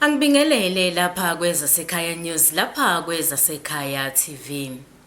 Angibingelele lapha kwezasekhaya news lapha kwezasekhaya TV.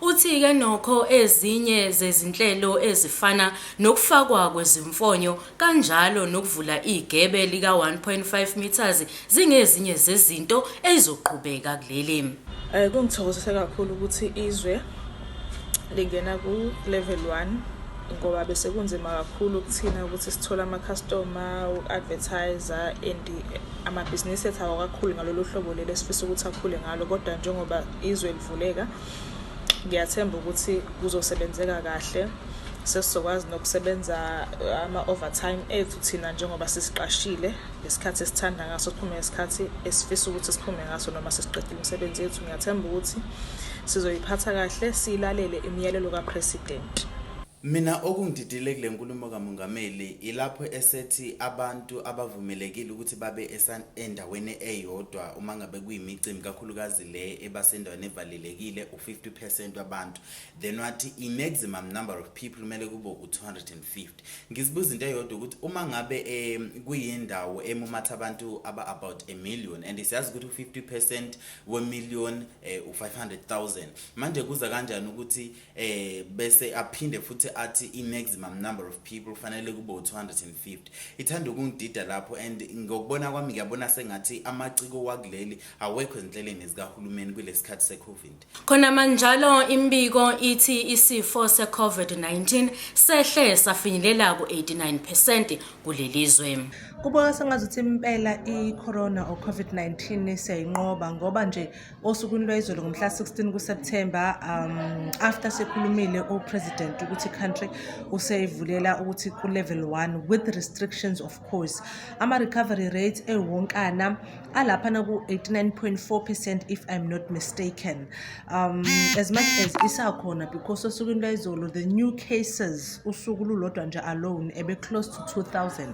Uthi ke nokho ezinye zezinhlelo ezifana nokufakwa kwezimfonyo kanjalo nokuvula igebe lika 1.5 metres zingezinye zezinto ezizoqhubeka kuleli. Eh, kungithokozise kakhulu ukuthi izwe lingena ku-level one ngoba bese kunzima kakhulu kuthina ukuthi sithole amakhastoma uku-advertise and amabhizinisi ethu awakakhulu ngalolu hlobo leli esifisa ukuthi akhule ngalo kodwa njengoba izwe kuvuleka ngiyathemba ukuthi kuzosebenzeka kahle sesizokwazi nokusebenza uh, ama-overtime ethu thina njengoba sisiqashile ngesikhathi esithanda ngaso siphume ngesikhathi esifisa ukuthi siphume ngaso noma sesiqedile imisebenzi yethu ngiyathemba ukuthi sizoyiphatha kahle siyilalele imiyalelo kapresident Mina okungididile kule nkulumo kaMongameli ilapho esethi abantu abavumelekile ukuthi babe endaweni eyodwa uma ngabe kuyimicimbi kakhulukazi le eba sendaweni evalelekile u-50 percent wabantu then wathi i-maximum number of people kumele kube u-250 ngizibuza into eyodwa ukuthi uma ngabe um kuyindawo emumatha abantu aba-about a million and siyazi ukuthi u-50 percent wemillion um eh, u-500 000 manje kuza kanjani ukuthi um bese aphinde futhi athi i-maximum number of people kufanele kube u-250 ithanda ukungidida lapho and ngokubona kwami ngiyabona sengathi amaciko wakuleli awekho ezinhlelweni zikahulumeni kulesikhathi seCovid. Khona manjalo imbiko ithi isifo seCovid-19 sehle safinyelela ku-89% kulelizwe. Kubona sengathi ukuthi impela iCorona or COVID-19 siyayinqoba ngoba nje osukwini lwezolo ngomhla 16 kuSeptember um after sekhulumile uPresident ukuthi country useyivulela ukuthi ku level 1 with restrictions of course ama-recovery rate ewonkana alaphana ku-89.4 percent if i'm not mistaken um, as much as isakhona because osukwini lwayizolo the new cases usuku lulodwa nje alone ebe-close to 2000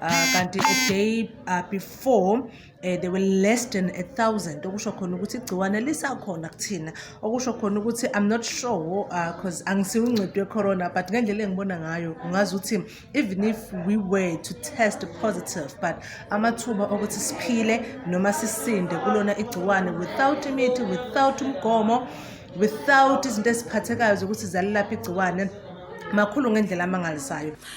uh, kanti a day uh, before eh, they were less than a thousand okusho khona ukuthi igciwane lisakhona kuthina okusho khona ukuthi i'm not sure because uh, angisiwo uncedo wecorona but ngendlela engibona ngayo ungazi ukuthi even if we were to test positive but amathuba okuthi siphile noma sisinde kulona igciwane without imithi without umgomo without izinto eziphathekayo zokuthi zalilapha igciwane makhulu ngendlela amangalisayo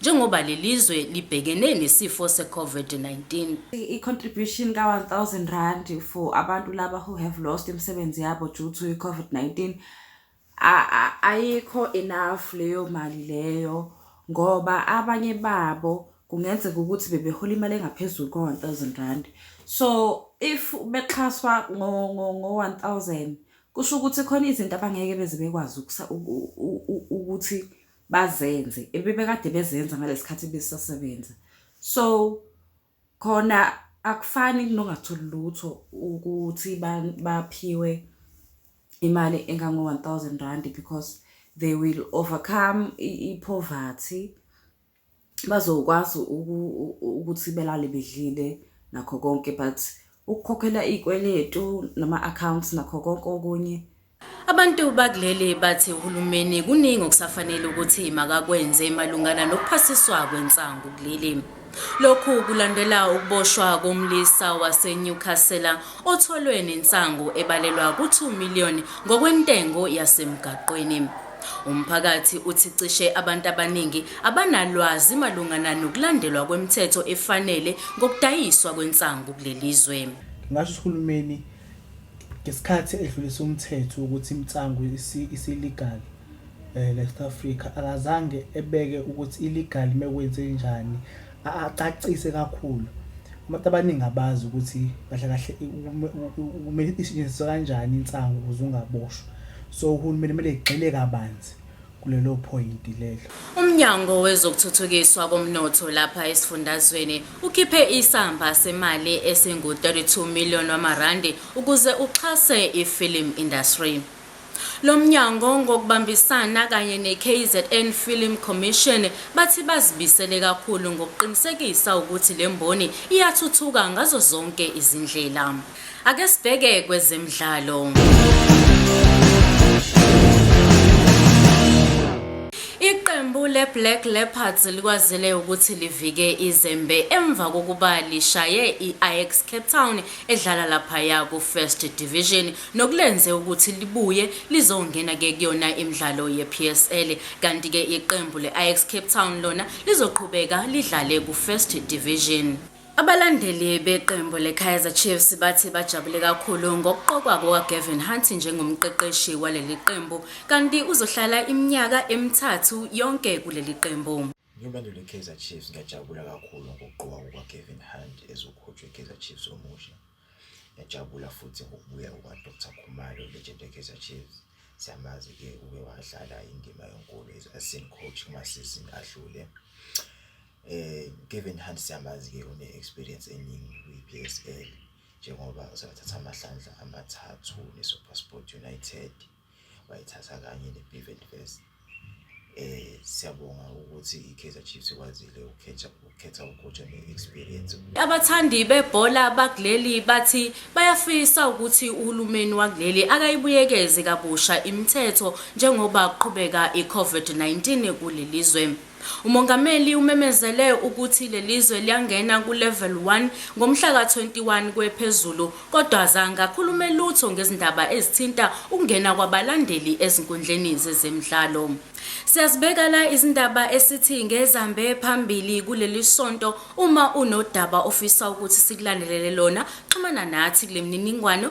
njengoba lelizwe libhekene nesifo seCovid-19. I-contribution ka-1000 rand for abantu laba who have lost imisebenzi yabo due to i-COVID-19 ayikho enough leyo mali leyo ngoba abanye babo kungenzeka ukuthi bebehola imali engaphezulu ko-1000 rand so if bexhaswa ngo-1000 kusho ukuthi khona izinto abangeke beze bekwazi ukuthi bazenze ebebekade bezenza ngalesikhathi besasebenza so khona akufani kunongatholi lutho ukuthi baphiwe imali engango-1000 rand because they will overcome i-poverty bazokwazi ukuthi belale bedlile nakho konke but ukukhokhela iy'kweletu nama-accounts nakho konke okunye Abantu bakuleli bathi uhulumeni kuningi okusafanele ukuthi makakwenze malungana nokuphasiswa kwensangu kuleli. Lokhu kulandela ukuboshwa komlisa waseNewcastle otholwe nensangu ebalelwa ku-2 million ngokwentengo yasemgaqweni. Umphakathi uthi cishe abantu abaningi abanalwazi malungana nokulandelwa kwemithetho efanele ngokudayiswa kwensangu kuleli zwe. Ngasho ukuthi uhulumeni ngesikhathi edlulisa umthetho wokuthi imitsangu isi-legal um eh, la South Africa akazange ebeke ukuthi i-legal uma kwenzenjani acacise kakhulu abantu abaningi abazi ukuthi kahle kahle kumele isetshenziswe kanjani insangu ukuze ungaboshwa so uhulumeni kumele egxile kabanzi kulelo point lelo umnyango wezokuthuthukiswa komnotho lapha esifundazweni ukhiphe isamba semali esingu-32 million wamarandi ukuze uxhase ifilm industry Lo mnyango ngokubambisana kanye neKZN Film Commission bathi bazibisele kakhulu ngokuqinisekisa ukuthi le mboni iyathuthuka ngazo zonke izindlela. Ake sibheke kwezemidlalo. Iqembu le-Black Leopards likwazile ukuthi livike izembe emva kokuba lishaye i-Ajax Cape Town edlala laphaya ku-First Division nokulenze ukuthi libuye lizongena ke kuyona imidlalo yePSL kanti ke iqembu leAjax Cape Town lona lizoqhubeka lidlale kuFirst Division. Abalandeli beqembu leKaizer Chiefs bathi bajabule kakhulu ngokuqokwa kukaGavin Hunt njengomqeqeshi waleli qembu kanti uzohlala iminyaka emithathu yonke kuleli qembu. Ngiwulandeli weKaizer Chiefs ngiyajabula kakhulu ngokuqokwa kukaGavin Hunt ezokhotshwa iKaizer Chiefs omusha. Yajabula futhi ngokubuya kukaDr Khumalo legend yeKaizer Chiefs. Siyamazi-ke uke wadlala indima enkulu as assistant coach kumasizini adlule. Eh Kevin Hunt siyamazi-ke une-experience eningi kwi-PSL njengoba usebathatha amahlandla amathathu neSuperSport United. wayithatha kanye ne-Bivent West eh siyabonga ukuthi iKaizer Chiefs ikwazile ukukhetha ukukhetha ukocha ne-experience abathandi bebhola bakuleli bathi bayafisa ukuthi uhulumeni wakuleli akayibuyekeze kabusha imithetho njengoba kuqhubeka i-COVID-19 kuleli zwe Umongameli umemezele ukuthi lelizwe liyangena ku level one ngomhla ka 21 kwe phezulu kodwa azange akhulume lutho ngezindaba ezithinta ukungena kwabalandeli ezinkundleni zezemidlalo. Siyazibeka la izindaba esithi ngezambe phambili kuleli sonto uma unodaba ofisa ukuthi sikulandelele lona xhumana nathi kulemininingwano